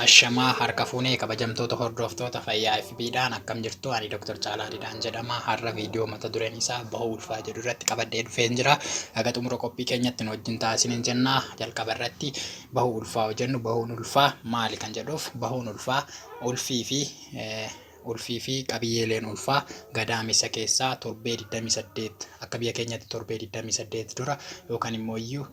Ashamaa harka fuunee kabajamtoota hordoftoota fayyaa FB dhaan akkam jirtu ani Dr. Caalaa Didaan jedhama har'a viidiyoo mata dureen isaa bahuu ulfaa jedhu irratti qabadhee dhufeen jira haga xumura qophii keenyatti nu wajjin taasisaniin jenna jalqaba irratti bahuu ulfaa hojennu bahuun ulfaa maali kan jedhuuf bahuun ulfaa ulfii fi ulfii fi qabiyyeeleen ulfaa gadaamessa keessaa torbee 28 akka biyya keenyatti torbee 28 dura yookaan immoo iyyuu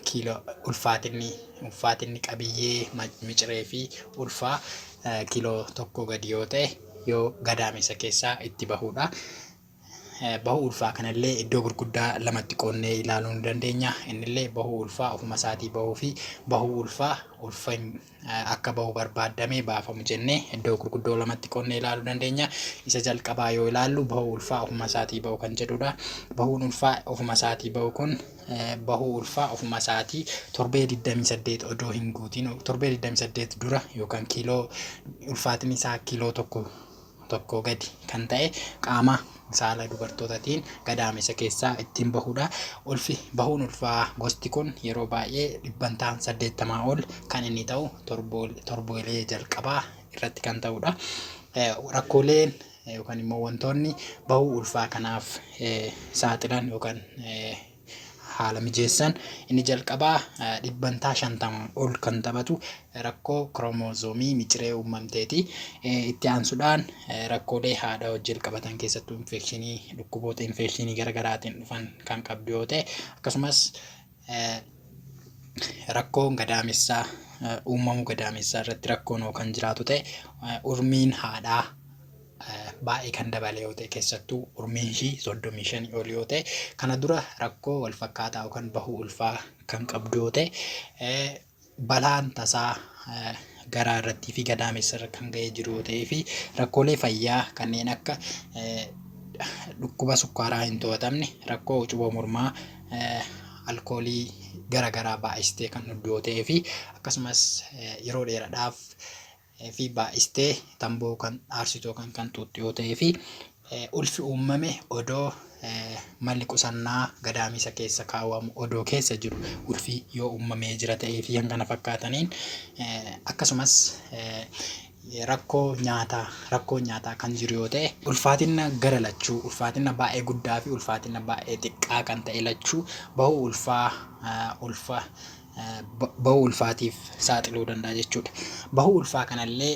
kiiloo ulfaatinni ulfaatinni qabiyyee miciree fi ulfaa kiiloo tokko gadi yoo ta'e yoo gadaamessa keessaa itti bahuudha. Bahuu ulfaa kanallee iddoo gurguddaa lamatti qoonnee ilaaluu ni dandeenya. Innillee bahuu ulfaa ofuma isaatii bahuu fi bahuu ulfaa ulfa akka bahu barbaaddame baafamu jennee iddoo gurguddoo lamatti qonnee ilaaluu dandeenya. Isa jalqabaa yoo ilaallu bahuu ulfaa ofuma isaatii bahu kan jedhudha. Bahuun ulfaa ofuma isaatii bahu kun bahuu ulfaa ofuma isaatii torbee 28 odoo hin guutiin torbee 28 dura yookaan kiiloo ulfaatiin isaa kiiloo tokko tokkoo gadi kan ta'e qaama saala dubartootatiin gadaamessa keessaa ittiin bahuudha. Ulfi bahuun ulfaa gosti kun yeroo baay'ee dhibbantaan 80 ol kan inni ta'u torboolee jalqabaa irratti kan ta'uudha. Rakkooleen yookaan immoo wantoonni bahuu ulfaa kanaaf saaxilan yookaan haala mijeessan inni jalqabaa dhibbantaa 50 ol kan taphatu rakkoo kiroomozoomii miciree uumamteeti. Itti aansuudhaan rakkoolee haadha wajjin walqabatan keessattuu infekshinii dhukkuboota infekshinii garaagaraatiin dhufan kan qabdu yoo ta'e akkasumas rakkoon gadaamessaa uumamuu gadaamessaa irratti rakkoon kan jiraatu ta'e urmiin haadhaa baay'ee kan dabale yoo ta'e keessattuu urmiin ishii soddomii shanii ol yoo ta'e kana dura rakkoo wal fakkaataa yookaan bahuu ulfaa kan qabdu yoo ta'e eh, balaan tasaa eh, garaa irrattii fi gadaamessa irra kan ga'ee jiru yoo ta'ee fi rakkoolee fayyaa kanneen akka eh, dhukkuba sukkaaraa hin to'atamne rakkoo ucuboo mormaa eh, alkoolii garaagaraa baay'istee kan dhugdu yoo ta'ee fi akkasumas eh, yeroo dheeraadhaaf fi baay'istee tamboo kan aarsitu yookaan kan xuuxxu yoo ta'ee fi ulfi uummame odoo malli qusannaa gadaamiisa keessa kaawwamu odoo keessa jiru ulfi yoo uummamee jira ta'ee fi kan kana fakkaataniin akkasumas rakkoo nyaataa rakkoo nyaataa kan jiru yoo ta'e ulfaatina gara lachuu ulfaatina baay'ee guddaa fi ulfaatina baay'ee xiqqaa kan ta'e lachuu bahuu ulfaa ulfa bahuu ulfaatiif saaxiluu danda'a jechuudha. Bahuu ulfaa kanallee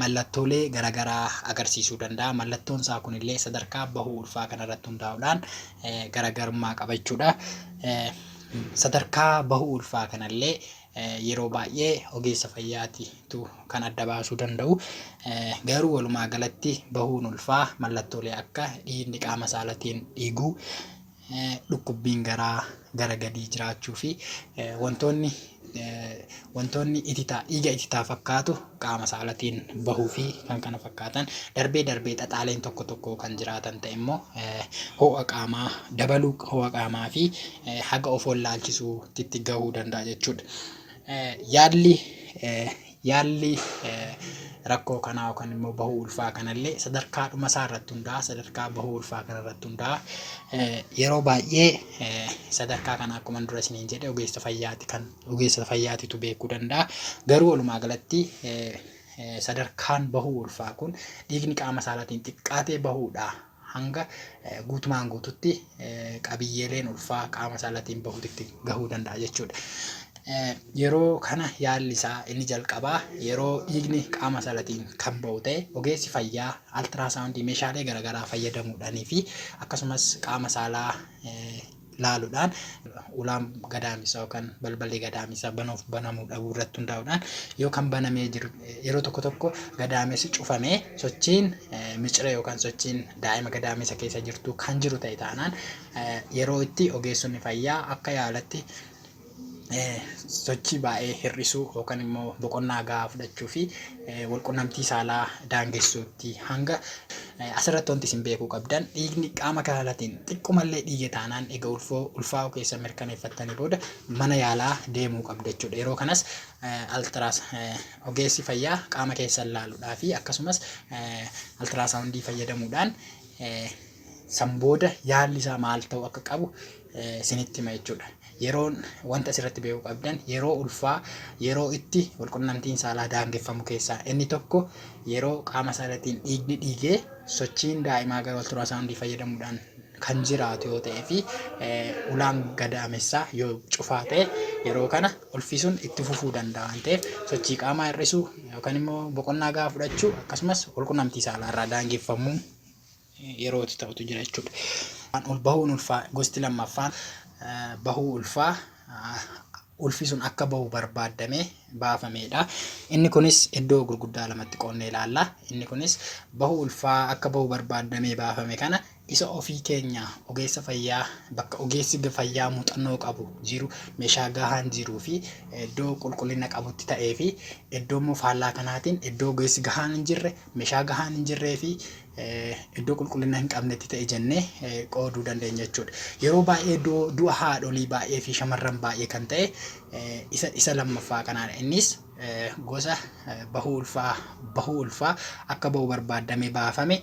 mallattoolee garagaraa agarsiisuu danda'a. Mallattoon isaa kunillee sadarkaa bahuu ulfaa kanarratti hundaa'uudhaan garagarummaa qaba jechuudha. Sadarkaa bahuu ulfaa kanallee yeroo baay'ee ogeessa fayyaatitu kan adda baasuu danda'u. Garuu walumaa galatti bahuun ulfaa mallattoolee akka dhiigni qaama saalatiin dhiiguu, dhukkubbiin garaa gara gadii jiraachuu fi wantoonni wantoonni ititaa dhiiga ititaa fakkaatu qaama saalatiin bahuu fi kan kana fakkaatan darbee darbee xaxaaleen tokko tokko kan jiraatan ta'e immoo ho'a qaamaa dabaluu ho'a qaamaa fi haga of wallaalchisuutti gahuu danda'a jechuudha. Yaalli Yaalli rakkoo kanaa yookaan immoo bahuu ulfaa kanallee sadarkaa dhuma isaa irratti hundaa'a, sadarkaa bahuu ulfaa kana irratti hundaa'a. Yeroo baay'ee sadarkaa kana akkuma dura isiniin jedhe ogeessa fayyaati kan ogeessa fayyaatitu beekuu danda'a. Garuu walumaa galatti sadarkaan bahuu ulfaa kun dhiigni qaama saalaatiin xiqqaatee bahuudha hanga guutumaan guututti qabiyyeeleen ulfaa qaama saalatiin bahuutitti gahuu danda'a jechuudha. Yeroo kana yaalli isaa inni jalqabaa yeroo dhiigni qaama saalatiin kan bahu ta'e ogeessi fayyaa altiraasaawundii meeshaalee garaagaraa fayyadamuudhaanii fi akkasumas qaama saalaa laaludhaan ulaan gadaamessaa yookaan balballi gadaamessaa banuuf banamuu dhabuu irratti hundaa'uudhaan yoo kan banamee jiru yeroo tokko tokko gadaamessi cufamee sochiin micira yookaan sochiin daa'ima gadaamessa keessa jirtu kan jiru ta'e taanaan yeroo itti ogeessonni fayyaa akka yaalatti sochii baay'ee hir'isuu yookaan immoo boqonnaa gahaa fudhachuu fi walqunnamtii saalaa daangessuutti hanga asirratti wanti isin beekuu qabdan dhiigni qaama kanaatiin xiqqumallee dhiige taanaan egaa ulfoo ulfaa'uu keessa mirkaneeffattanii booda mana yaalaa deemuu qabda jechuudha. Yeroo kanas altiraas ogeessi fayyaa qaama keessa ilaaluudhaa fi akkasumas altiraasawundii fayyadamuudhaan San booda yaalli isaa maal ta'uu akka qabu isinitti hima jechuudha. Yeroon wanta asirratti beekuu qabdan yeroo ulfaa yeroo itti walqunnamtiin saalaa daangeffamu keessaa inni tokko yeroo qaama isaa irrattiin dhiigni dhiigee sochiin daa'imaa gara ultiraasaawundii fayyadamuudhaan kan jiraatu yoo ta'ee fi ulaan gadaamessaa yoo cufaa ta'e yeroo kana ulfisuun itti fufuu danda'a waan ta'eef sochii qaamaa hir'isuu yookaan immoo boqonnaa gahaa fudhachuu akkasumas walqunnamtii saalaa irraa daangeffamuu yeroo itti ta'utu jira jechuudha. Waan ol bahuun ulfaa gosti lammaffaan eh, bahuu ulfaa ah, ulfi sun akka bahu barbaaddamee baafameedha. Inni kunis iddoo gurguddaa lamatti qoonnee ilaalla. Inni kunis bahuu ulfaa akka bahu barbaaddamee baafame kana isa ofii keenya ogeessa fayyaa bakka ogeessi ga- fayyaa muuxannoo qabu jiru meeshaa gahaan jiruu fi iddoo qulqullina qabutti ta'ee fi iddoo immoo faallaa kanaatiin iddoo ogeessi gahaan hin jirre meeshaa gahaan hin jirree fi iddoo qulqullina hin qabnetti ta'e jennee qooduu dandeenya jechuudha. Yeroo baay'ee du'a haadholii baay'ee fi shamarran baay'ee kan ta'e isa isa lammaffaa kanaan innis gosa bahuu ulfaa bahuu ulfaa akka bahu barbaadamee baafame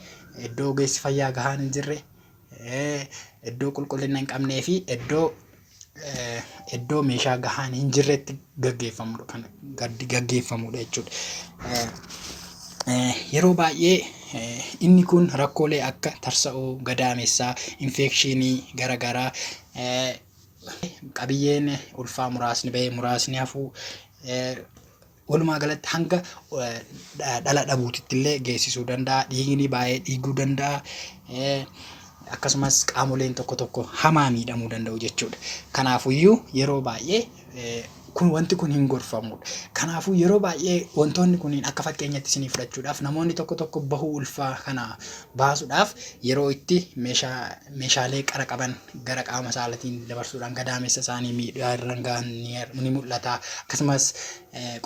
iddoo ogeessi fayyaa gahaan hin jirre iddoo qulqullina hin qabnee fi iddoo iddoo meeshaa gahaan hin jirretti gaggeeffamudha kan gaggeeffamudha jechuudha. Yeroo baay'ee inni kun rakkoolee akka tarsa'uu gadaamessaa, infekshinii garaagaraa qabiyyeen ulfaa muraasni bahee muraasni hafuu Walumaa galatti hanga dhala dhabuutitti illee geessisuu danda'a. Dhiigni baay'ee dhiiguu danda'a. Akkasumas qaamoleen tokko tokko hamaa miidhamuu danda'u jechuudha. Kanaafuyyuu yeroo baay'ee kun wanti kun hin gorfamudha. Kanaafuu yeroo baay'ee wantoonni kunniin akka fakkeenyatti isinii fudhachuudhaaf namoonni tokko tokko bahuu ulfaa kana baasuudhaaf yeroo itti meeshaa meeshaalee qara qaban gara qaama saalatiin dabarsuudhaan gadaamessa isaanii miidhaa irraan gahan ni mul'ata. Akkasumas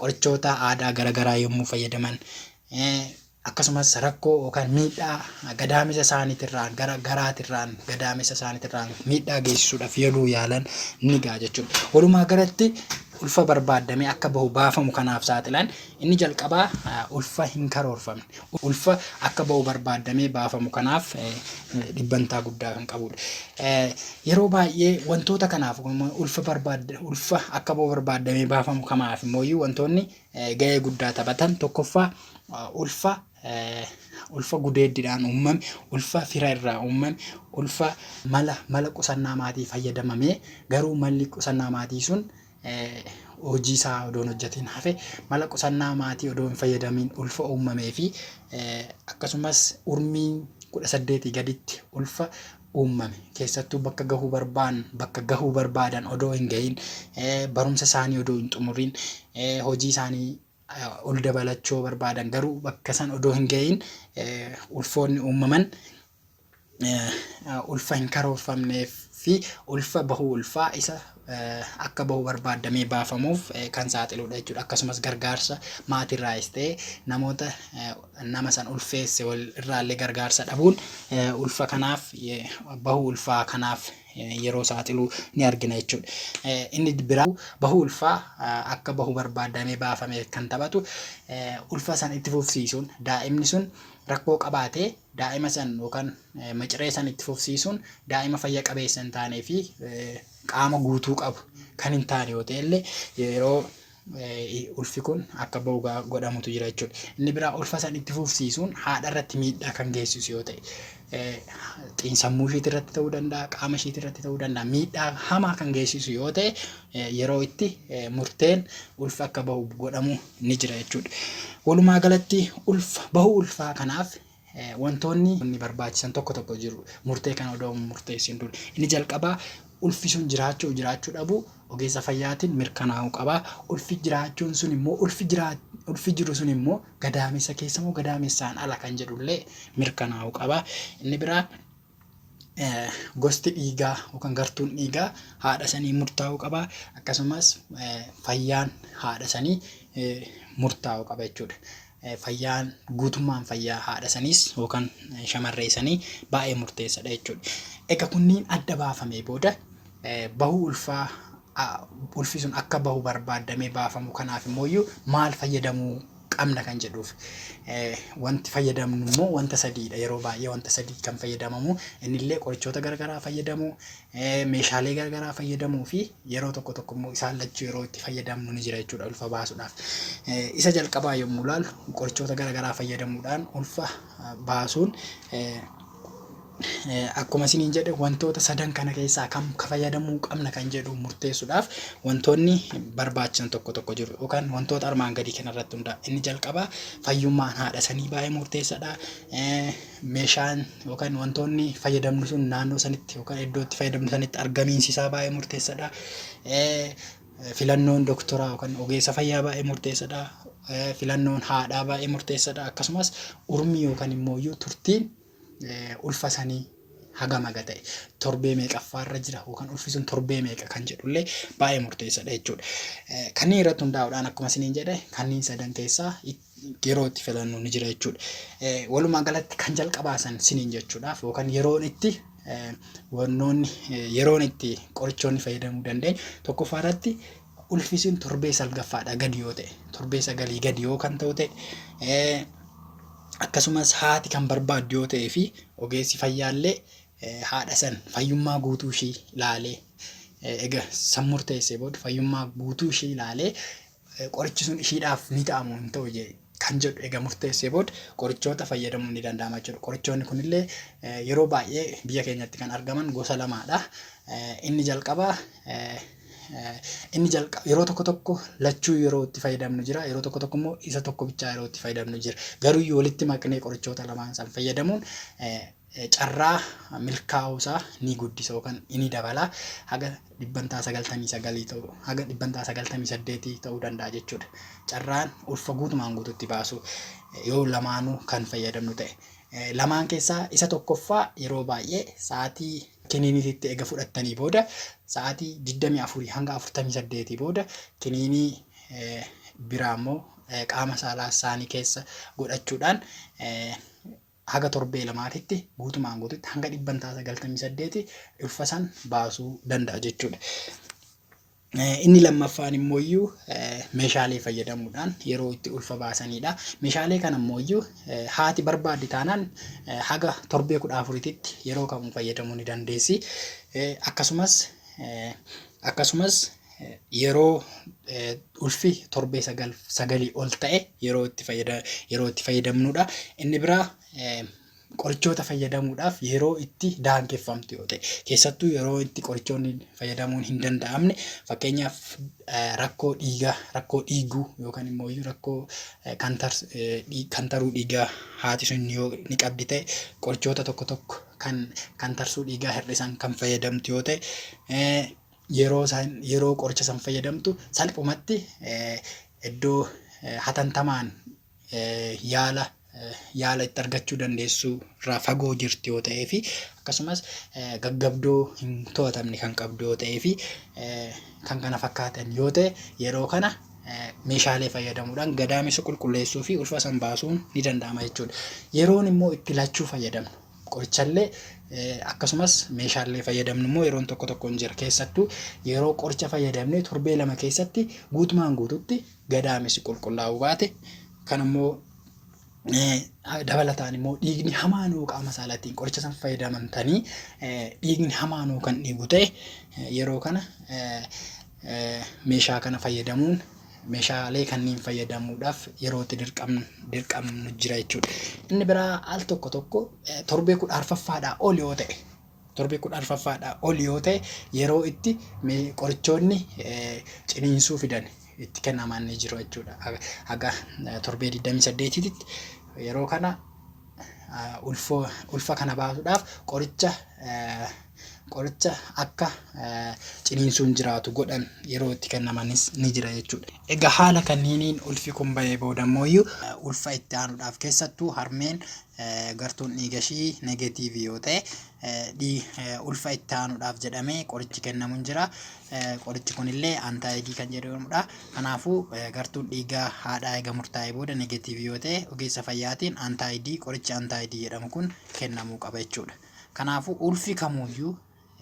qorichoota aadaa garaagaraa yommuu fayyadaman akkasumas rakkoo yookaan miidhaa gadaamessa isaaniitirraan gara garaatirraan gadaamessa isaaniitirraan miidhaa geessisuudhaaf yeroo yaalan ni gaha jechuudha. Walumaa galatti ulfa barbaadamee akka bahu baafamu kanaaf saaxilan inni jalqabaa ulfa hin karoorfamne. ulfa akka ba'u barbaaddamee baafamu kanaaf dhibbantaa guddaa kan qabudha. Yeroo baay'ee wantoota kanaaf ulfa barbaadda ulfa akka ba'u barbaaddamee baafamu kamaaf immoo wantoonni ga'ee guddaa taphatan tokkoffaa ulfa ulfa gudeeddidhaan uumame, ulfa fira irraa uumame, ulfa mala mala qusannaa maatii fayyadamamee garuu malli qusannaa maatii sun hojii isaa odoo hin hojjatiin hafe, mala qusannaa maatii odoo hin fayyadamiin ulfa uummamee fi akkasumas urmiin 18 gaditti ulfa uummame keessattuu bakka gahuu barbaan bakka gahuu barbaadan odoo hin gahiin barumsa isaanii odoo hin xumuriin hojii isaanii ol dabalachoo barbaadan garuu bakka san odoo hin gahiin ulfoonni uummaman ulfa hin karoorfamneef fi ulfa bahuu ulfaa isa akka bahu barbaaddamee baafamuuf kan saaxiluudha jechuudha. Akkasumas gargaarsa maatiirraayis ta'ee namoota nama san ulfeesse wal irraallee gargaarsa dhabuun ulfa kanaaf bahuu ulfaa kanaaf yeroo saaxiluu ni argina jechuudha. Inni biraa bahuu ulfaa akka bahu barbaaddamee baafamee kan taphatu ulfa san itti fufsiisuun daa'imni sun rakkoo qabaatee daa'ima san yookaan miciree san itti fufsiisuun daa'ima fayya qabeessa hin taanee fi qaama guutuu qabu kan hin taane yoo ta'e illee yeroo ulfi kun akka ba'u godhamutu jira jechuudha. Inni biraa ulfa san itti fufsiisuun haadha irratti miidhaa kan geessisu yoo ta'e xiinsammuu ishiitti irratti ta'uu danda'a, qaama ishiitti irratti ta'uu danda'a, miidhaa hamaa kan geessisu yoo ta'e yeroo itti murteen ulfa akka ba'u godhamu ni jira jechuudha. Walumaa galatti ulfa bahuu ulfaa kanaaf wantoonni inni barbaachisan tokko tokko jiru. Murtee kana odoo murteessin dura. Inni jalqabaa ulfi sun jiraachuu jiraachuu dhabuu ogeessa fayyaatiin mirkanaa'uu qaba. Ulfi jiraachuun sun immoo ulfi jiraa ulfi jiru sun immoo gadaamessa keessa moo gadaamessaan ala kan jedhullee mirkanaa'uu qaba. Inni biraa gosti dhiigaa yookaan gartuun dhiigaa haadha sanii murtaa'uu qaba. Akkasumas fayyaan haadha sanii murtaa'uu qaba jechuudha. Fayyaan guutummaan fayyaa haadha saniis yookaan shamarree sanii baay'ee murteessadha jechuudha. Egaa kunniin adda baafamee booda bahuu ulfaa a. Ulfi sun akka bahu barbaaddamee baafamu kanaaf immoo iyyuu maal fayyadamuu qabna kan jedhuuf wanti fayyadamnu immoo wanta sadiidha. Yeroo baay'ee wanta sadii kan fayyadamamu inni illee qorichoota garagaraa fayyadamu, meeshaalee garagaraa fayyadamuu fi yeroo tokko tokko immoo isaan lachuu yeroo itti fayyadamnu ni jira jechuudha ulfa baasuudhaaf. Isa jalqabaa yommuu ilaallu qorichoota garagaraa fayyadamuudhaan ulfa baasuun Akkuma isiniin jedhe wantoota sadan kana keessaa kam ka fayyadamuu qabna kan jedhu murteessuudhaaf wantoonni barbaachisan tokko tokko jiru yookaan wantoota armaan gadii kana irratti hunda'a. Inni jalqabaa fayyummaan haadha sanii baay'ee murteessadha. Eh, Meeshaan yookaan wantoonni fayyadamnu sun naannoo sanitti yookaan iddoo itti fayyadamnu sanitti argamiinsi isaa baay'ee murteessadha. Eh, Filannoon doktoraa yookan ogeessa fayyaa baay'ee murteessadha. Filannoon haadhaa baay'ee murteessadha. Akkasumas urmii yookan immooyyuu turtiin ulfa sanii hagam haga ta'e torbee meeqaffaarra jira yookan ulfi sun torbee meeqa kan jedhullee baay'ee murteessadha jechuudha. Kanneen irratti hundaa'uudhaan akkuma isiniin jedhe kanneen sadan keessaa yeroo itti filannu ni jira jechuudha. Walumaa galatti kan jalqabaa san siniin jechuudhaaf yookaan yeroon itti wannoonni yeroon itti qorichoonni fayyadamuu dandeenyu tokkoffaa irratti ulfisiin torbee salgaffaadha gadi yoo ta'e torbee sagalii gadi yoo kan ta'u ta'e akkasumas haati kan barbaaddu yoo ta'ee fi ogeessi fayyaallee haadha san fayyummaa guutuu ishii ilaalee egaa san murteessee booda fayyummaa guutuu ishii ilaalee qorichi sun ishiidhaaf ni ta'a moo hin ta'u jee kan jedhu egaa murteessee booda qorichoota fayyadamuun ni danda'ama jechuudha. Qorichoonni kunillee eh, yeroo baay'ee biyya keenyatti kan argaman gosa lamaadha. Eh, Inni jalqabaa eh, eh, inni jalqaba yeroo tokko tokko lachuu yeroo itti fayyadamnu jira yeroo tokko tokko immoo isa tokko bichaa yeroo itti fayyadamnu jira garuu yoo walitti maknee qorichoota lamaan san fayyadamuun eh, carraa milkaa'uu isaa ni guddisa yookaan ni dabala. Haga dhibbantaa 99 ta'u, haga dhibbantaa 98 ta'uu danda'a jechuudha. Carraan ulfa guutumaan guututti baasuu yoo lamaanuu kan fayyadamnu ta'e. Lamaan keessaa isa tokkoffaa yeroo baay'ee sa'aatii kiniiniititti ega fudhattanii booda sa'aatii 24 hanga 48 booda kiniinii biraa immoo qaama saalaa isaanii keessa godhachuudhaan haga torbee lamaatitti guutumaan guututti hanga dhibbantaa 98 ulfa san baasuu danda'a jechuudha. Inni lammaffaan immoo iyyuu meeshaalee fayyadamuudhaan yeroo itti ulfa baasaniidha. Meeshaalee kana immoo iyyuu haati barbaaddi taanaan haga torbee kudha afurititti yeroo kamuu fayyadamuu ni dandeessi. Akkasumas akkasumas yeroo ulfi torbee sagal sagalii ol ta'e yeroo itti fayyada yeroo itti fayyadamnuudha. Inni biraa qorichoota fayyadamuudhaaf yeroo itti daangeffamtu yoo ta'e keessattuu yeroo itti qorichoonni fayyadamuun hin danda'amne fakkeenyaaf rakkoo dhiigaa rakkoo dhiiguu yookaan immoo rakkoo kantaruu dhiigaa haati sun yoo ni qabdi ta'e qorichoota tokko tokko kan kantarsuu dhiigaa hir'isan kan fayyadamtu yoo ta'e yeroo san yeroo qoricha san fayyadamtu salphumatti iddoo hatantamaan yaala yaala itti argachuu dandeessu irraa fagoo jirti yoo ta'ee fi akkasumas gaggabdoo hin to'atamne kan qabdu yoo ta'ee fi kan kana fakkaatan yoo ta'e yeroo kana meeshaalee fayyadamuudhaan gadaamessa qulqulleessuu fi ulfa san baasuun ni danda'ama jechuudha. Yeroon immoo itti lachuu fayyadamnu Qorichallee akkasumas meeshaallee fayyadamnu immoo yeroon tokko tokko hin jira. Keessattuu yeroo qoricha fayyadamnee torbee lama keessatti guutumaan guututti gadaamessi qulqullaa'uu baate kan immoo dabalataan immoo dhiigni hamaa nuu qaama saalaatiin qoricha san fayyadamantanii dhiigni hamaa nuu kan dhiigu ta'e yeroo kana meeshaa kana fayyadamuun meeshaalee kanniin fayyadamuudhaaf yeroo itti dirqamnu dirqamnu jira jechuudha. Inni biraa al tokko tokko eh, torbee kudha arfaffaadhaa ol yoo ta'e torbee kudha arfaffaadhaa ol yoo ta'e yeroo itti me- qorichoonni eh, ciniinsuu fidan itti kennaman ni jiru jechuudha. Haga haga, eh, torbee 28tti yeroo kana ah, ulfoo ulfa kana baasuudhaaf qoricha eh, Qoricha akka ciniinsuun jiraatu godhan yeroo itti kennamanis ni jira jechuudha. Egaa haala kanniiniin ulfi kun ba'ee booda immoo ulfa itti aanuudhaaf keessattuu harmeen gartuun dhiiga ishii negatiivii yoo ta'e ulfa itti aanuudhaaf jedhamee qorichi kennamu hin jira. Qorichi kunillee antaayidii kan jedhamudha. Kanaafuu gartuun dhiigaa haadhaa eega murtaa'ee booda negatiivii yoo ta'e ogeessa fayyaatiin antaayidii qorichi antaayidii jedhamu kun kennamuu qaba jechuudha. Kanaafuu ulfi kamuuyyuu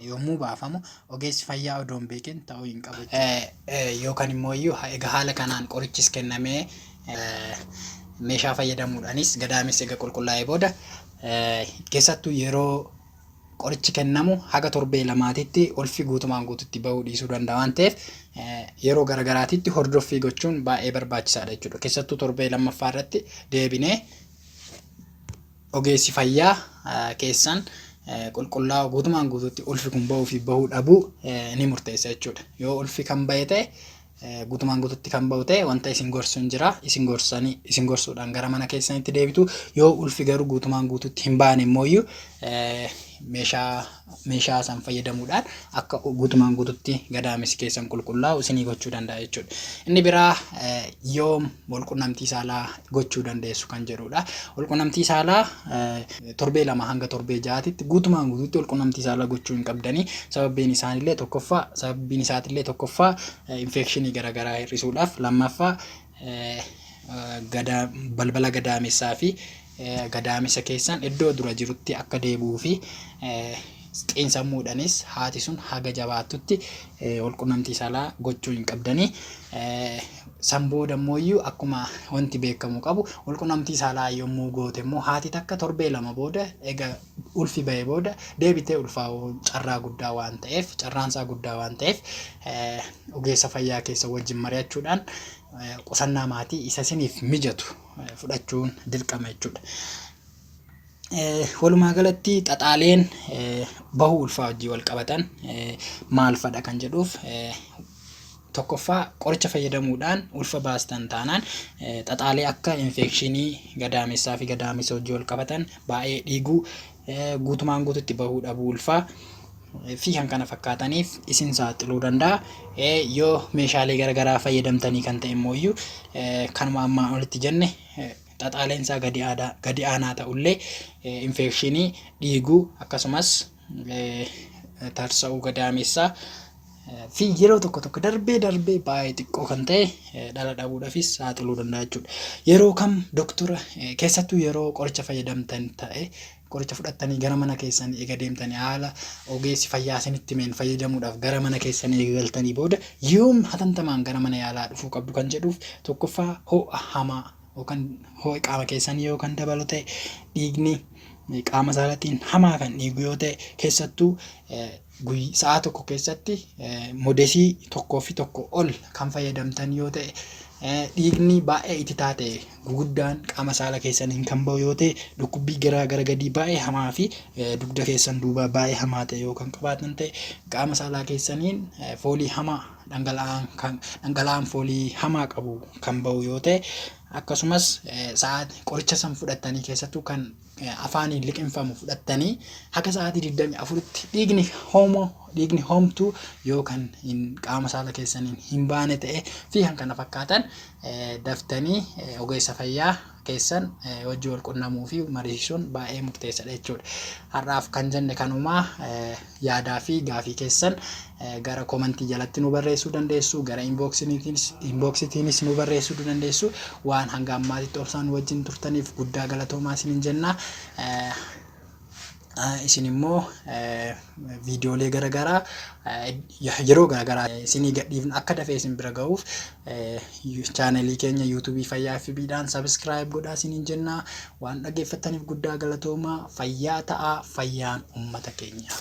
yommuu baafamu ogeessi fayyaa odoo hin beekin ta'uu hin qabu jechuudha. Yookaan immoo iyyuu egaa haala kanaan qorichis kennamee meeshaa fayyadamuudhaanis gadaameessi egaa qulqullaa'ee booda keessattuu yeroo qorichi kennamu haga torbee lamaatitti ulfi guutumaan guututti ba'uu dhiisuu danda'a waan ta'eef yeroo garagaraatitti hordoffii gochuun baay'ee barbaachisaadha jechuudha. Keessattuu torbee lammaffaa irratti deebinee Ogeessi fayyaa keessan qulqullaa'oo guutumaan guutuutti ulfi kun bahuu fi bahuu dhabuu ni murteessa jechuudha. Yoo ulfi kan bahe ta'e guutumaan guutuutti kan bahu ta'e wanta isin gorsu hin jira. Isin gorsanii isin gorsuudhaan gara mana keessanitti deebitu. Yoo ulfi garuu guutumaan guutuutti hin baane immoo meeshaa meeshaa san fayyadamuudhaan akka guutumaan guututti gadaamessi keessan qulqullaa'u isinii gochuu danda'a jechuudha. Inni biraa yoom walqunnamtii saalaa gochuu dandeessu kan jedhudha. Walqunnamtii saalaa torbee lama hanga torbee ja'aatitti guutumaan guututti walqunnamtii saalaa gochuu hin qabdanii sababiin isaanillee tokkoffaa sababiin isaatillee tokkoffaa infeekshinii garaagaraa hir'isuudhaaf lammaffaa balbala gadaamessaa fi gadaamessa keessan iddoo dura jirutti akka deebi'uu fi xiinsammuudhanis haati sun haga jabaattutti walqunnamtii saalaa gochuu hin qabdanii. San booda immoo iyyuu akkuma wanti beekamu qabu walqunnamtii saalaa yommuu goote immoo haati takka torbee lama booda ega ulfi ba'ee booda deebitee ulfaa'uun carraa guddaa waan ta'eef carraan isaa guddaa waan ta'eef ogeessa fayyaa keessa wajjin mari'achuudhaan qusannaa maatii isa isiniif mijatu fudhachuun dirqama jechuudha. Walumaa galatti xaxaaleen bahuu ulfaa wajjin wal qabatan maal fadha kan jedhuuf Tokkoffaa, qoricha fayyadamuudhaan ulfa baastan taanaan xaxaalee akka infeekshinii gadaamessaa fi gadaamessa hojii wal qabatan, baay'ee dhiiguu, guutumaan guututti bahuu dhabuu ulfaa fi kan kana fakkaataniif isin saaxiluu danda'a. Yoo meeshaalee garaagaraa fayyadamtanii kan ta'e immoo iyyuu kanuma ammaa olitti jenne xaxaaleen isaa gadi aanaa ta'ullee infeekshinii dhiiguu akkasumas tarsa'uu gadaameessaa fi yeroo tokko tokko darbee darbee baay'ee xiqqoo kan ta'e dhala dhabuudhaafis saaxiluu danda'a jechuudha. Yeroo kam doktora keessattuu yeroo qoricha fayyadamtan ta'e qoricha fudhattanii gara mana keessan eega deemtanii haala ogeessi fayyaa isinitti himeen fayyadamuudhaaf gara mana keessan eegaltanii booda yoom hatantamaan gara mana yaalaa dhufuu qabdu kan jedhuuf tokkoffaa ho'a hamaa yookan hoo'i qaama keessanii yoo kan dabalu ta'e, dhiigni qaama isaa irratti hamaa kan dhiigu yoo ta'e, keessattuu guyy- sa'aa tokko keessatti modesii tokkoo fi tokko ol kan fayyadamtan yoo ta'e, dhiigni baay'ee ititaa ta'e guguddaan qaama saala keessaniin kan ba'u yoo ta'e, dhukkubbii garaa gara gadii baay'ee hamaa fi dugda keessan duubaa baay'ee hamaa ta'e yoo kan qabaatan ta'e, qaama saalaa keessaniin foolii hamaa dhangala'aan foolii hamaa qabu kan ba'u yoo ta'e akkasumas sa'aatii qoricha san fudhattanii keessattuu kan afaaniin liqinfamu fudhattanii haga sa'aatii 24tti dhiigni hoomoo dhiigni hoomtuu yoo kan hin qaama saala keessaniin hin baane ta'e fi kan kana fakkaatan daftanii ogeessa fayyaa keessan wajji wal qunnamuu fi mariisisuun baay'ee murteessadha jechuudha. Har'aaf kan jenne kanuma yaadaa fi gaafii keessan gara komantii jalatti nu barreessuu dandeessu gara inboksitiinis nu barreessuu dandeessu waan hanga ammaatitti obsaan wajjin turtaniif guddaa galatoomaa isinin jenna. isin immoo viidiyoolee garagaraa yeroo garagaraa isinii gadhiifna akka dafee isin bira ga'uuf chaanalii keenya yuutuubii fayyaa fi biidhaan sabiskiraayib godhaa isiniin jennaa waan dhaggeeffattaniif guddaa galatoomaa fayyaa ta'aa fayyaan uummata keenyaaf.